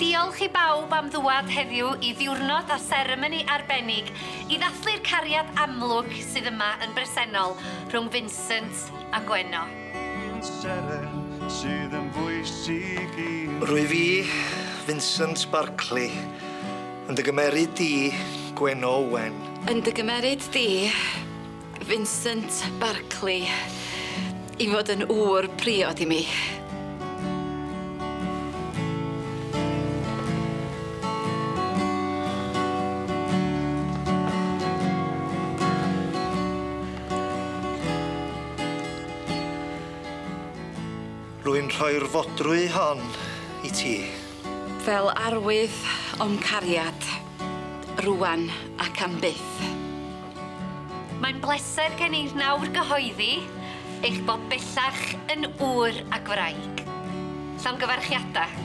Diolch i bawb am ddŵad heddiw i ddiwrnod a seremoni arbennig i ddathlu'r cariad amlwg sydd yma yn bresennol rhwng Vincent a Gwenno. Rwyf i, Vincent Barclay, yn dy gymeryd di, Gwenno Owen. Yn dy gymeryd di. Vincent Barclay i fod yn ŵr priod i mi. Rwy'n rhoi'r fodrwy hon i ti. Fel arwydd o'm cariad, rŵan ac am byth. Mae'n bleser gen i nawr gyhoeddi eich bod bellach yn ŵr ac wraig. Llongyfarchiadau.